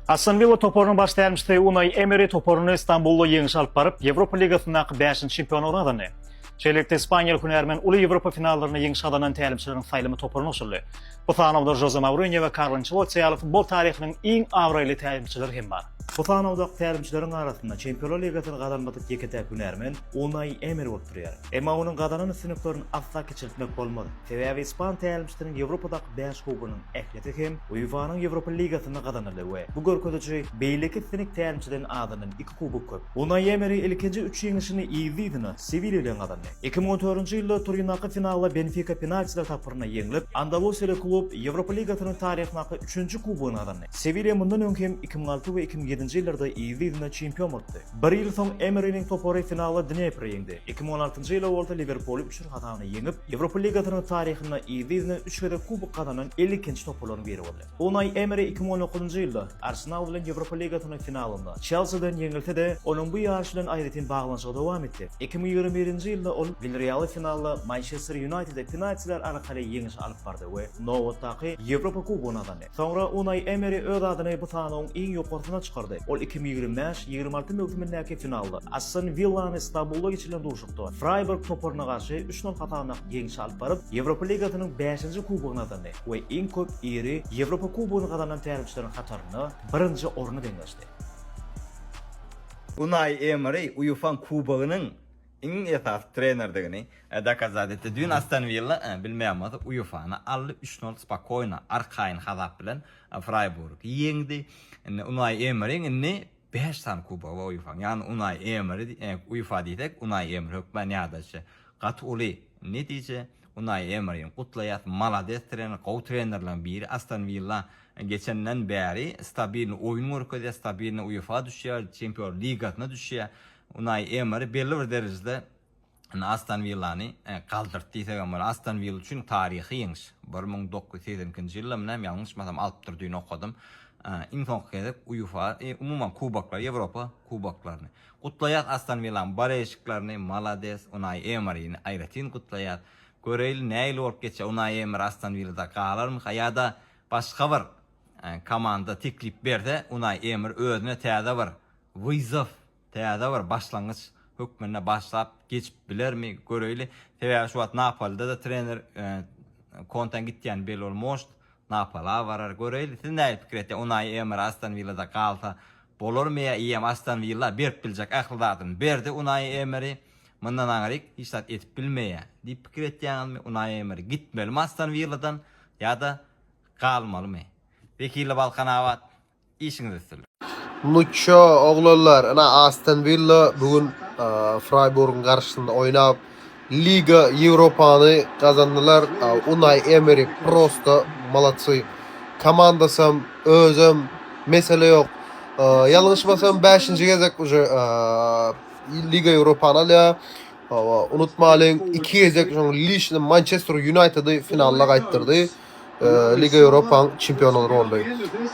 Aston Willa toparynyň baş tälimçisi Unaý Emeri toparyny Stambulda ýeňişe alyp baryp, Ýewropa ligasyndaky bäşinji çempionlygyny gazandy. Şeýlelikde, ispaniýaly hünärmen uly Ýewropa finallarynda ýeňiş gazanan tälimçileriň saýlama toparyna goşuldy. Bu sanawda Žoze Mourinýo we Karlo Ançelotti ýaly futbol taryhynyň iň abraýly tälimçileri hem bar. Bu sanawdaky tälimçileriň arasynda Çempionlar ligasyny gazanmadyk ýeke-täk hünärmen Unaý Emeri bolup durýar. Emma onuň gazanan üstünliklerini asla kiçeltmek bolmaz. Sebäbi ispan tälimçisiniň Ýewropadaky bäş kubogynyň ähli Ýete hem UEFA-nyň Ýewropa ligasynda gazanyldy we bu görkeziji beýleki siňek tälimçiden azyndan iki kubok köp. Unaý Emeri ilkinji üç ýeňişini yzly-yzyna Sewilýa bilen gazandy. Iki müň on dördünji ýylda Turindaky finalda Benfika penaltiler tapgyrynda ýeňlip, andalusiýaly klub Ýewropa ligasynyň taryhyndaky üçünji kubogyny gazandy. Sewilýa mundan öň hem iki müň alty we iki müň ýedinji ýyllarda yzly-yzyna çempion bolupdy. Bir ýyl soň Emeriniň topary finalda Dnepri ýeňdi, iki müň on altynjy ýyla bolsa Liwerpuly üç. Kazany ýeňip, Ýewropa ligasynyň taryhynda yzly-yzyna üç gezek kubok gazanan elli ikinji topbalaryň biri boldy. Unaý Emeri iki müň on dokuzynjy ýylda Arsenal bilen Ýewropa ligasynyň finalynda Çelsiden ýeňilse-de, onuň bu ýaryş bilen aýratyn baglanyşygy dowam etdi. Iki müň ýigrimi birinji ýylda ol Wilrealy finalda Mançester Ýunaýtede penaltiler arkaly ýeňiş alyp bardy we nobatdaky Ýewropa kubogyny gazandy. Soňra Unaý Emeri öz adyny bu sanawyň iň ýokarsyna çykardy. Ol iki müň ýigrimi bäş, ýigrimi alty möwsümindäki finalda, Aston Willany Stambulda geçirilen duşuşykda Fraýburg toparyna garşy üç nol hasabynda ýeňşe alyp baryp, Ýewropa ligasynyň bäşinji kubogyny gazandy we iň köp iri Ýewropa kubogyny gazanan tälimçileriň hatarynda birinji orny deňleşdi. Unaý Emeri UEFA-nyň Kubogynyň Iň esasy trenerdigini dokazat etdi. Düýn Aston Willa bilmeýänbolsa UEFA-ny aldy, üç nol spokoýno, arkaýyn hasap bilen Fraýburgy ýeňdi. Indi Unaý Emeriň indi bäş sany kubogy bar UEFA-nyň. Ýagny Unaý Emeri UEFA diýsek, Unaý Emeri hökmän ýadaýşy gaty uly. Netije, Unaý Emerini gutlaýas, malades trener, gowy trenerleriň biri. Aston Willa geçenden bäri stabilny oýun görkezýär, stabilny UEFA düşýär, Çempionlar ligasyna düşýär. Unaý Emeri belli bir derejede indi Aston Willany galdyrdy diýsegem bolar. Aston Willa üçin taryhy ýeňiş. Bir müň dokuz ýüz segsen ikinji ýyldamy näme ýalňyşmasam alypdyr düýn okadym. Iň soňky gezek UEFA, umuman kuboklary, Ýewropa kuboklaryny. Gutlaýas Aston Willanyň boleýşiklerini, malades Unaý Emerini aýratyn gutlaýas. Göreýli nähili bolup geçýär, Unaý Emer Aston Willada galarmyka ýa-da başga bir komanda teklip berse Unaý Emer özüne täze bir Wyzow täze bir başlangyç hökmünde başlap geçip bilermi, göreýli. Sebäbi şu wagt Napoli-de-de trener Konteň gitýäni belli bolmoşt. Napoli-a barar, göreýli. Siz nähili pikir etýäňiz? Unaý Emeri Aston Willada galsa bolarmy ýa eýýäm Aston Willa berip biljek ähli zadyny berdi Unaý Emeri, mundan aňryk hiç zat edip bilmeýär diýip pikir etýäňizmi? Unaý Emeri gitmelimi Aston Willadan ýa-da galmalymy? Wekili Balkanabat Işiňiz üstün. Muço oglanlar ina Aston Villa bu gün Frayburgyň garşysynda oýnap Liga Ýewropany gazandylar. Unai Emery prosta molodsy. Komandasam özem mesele ýok. Ýalňyşmasam 5-nji gezek uje Liga Ýewropany alýar. Unutmalyň 2 gezek şoň lişni Mançester Ýunaýtedy finala gaýtdyrdy. e, Liga Ýewropanyň çempiony boldy.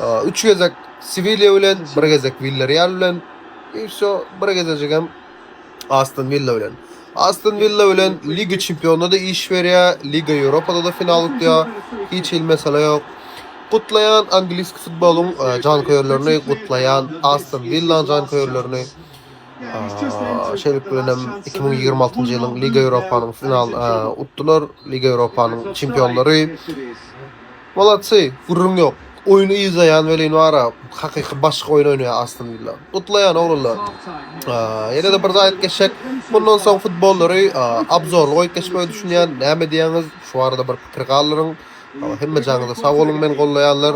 E, üç gezek Sewilýa bilen, bir gezek Villarreal bilen, e, şu bir gezejik hem Aston Villa bilen. Aston Villa bilen Liga çempionynda da iş berýär, Liga Ýewropada da final utýar. Hiç hil mesele ýok. Gutlaýan angliski futbolyň e, janköýerlerini, gutlaýan Aston Villa janköýerlerini. Şeýlelik bilen hem iki müň ýigrimi altynjy ýylyň Liga Ýewropanyň final utdular. Liga Ýewropanyň çempionlary. Moladsy, gürrüň ýok. Oýny yzlaýan welin bara, hakyky başga oýun oýnaýar Aston Willa. Gutlaýan oglanlar. Ýene-de bir zat aýdyp geçsek, mundan soň futbollary obzorly goýup geçmegi düşünýän. Näme diýýäňiz? Şu barada bir pikir galdyryň. Salam hemme janyňyza sag boluň meni gollaýanlar.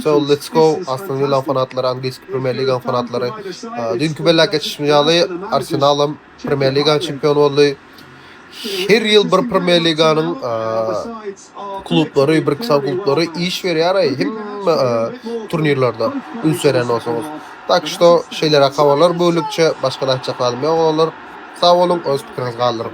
So let's go Aston Villa fanatlary Angliski Premier Liga fanatlary. Düýnki belläp geçişimiz ýaly Arsenal hem Premier Liga çempiony boldy. Her ýyl bir Premier Liganyň klublary, bir kysal klublary iş berýär aý hemme turnirlerde üns berýän bolsaňyz. Tak şto şeýleräk habarlar bölükçe başga-da aýtjak zadym ýok oglanlar. Sag boluň öz pikiriňizi galdyryň.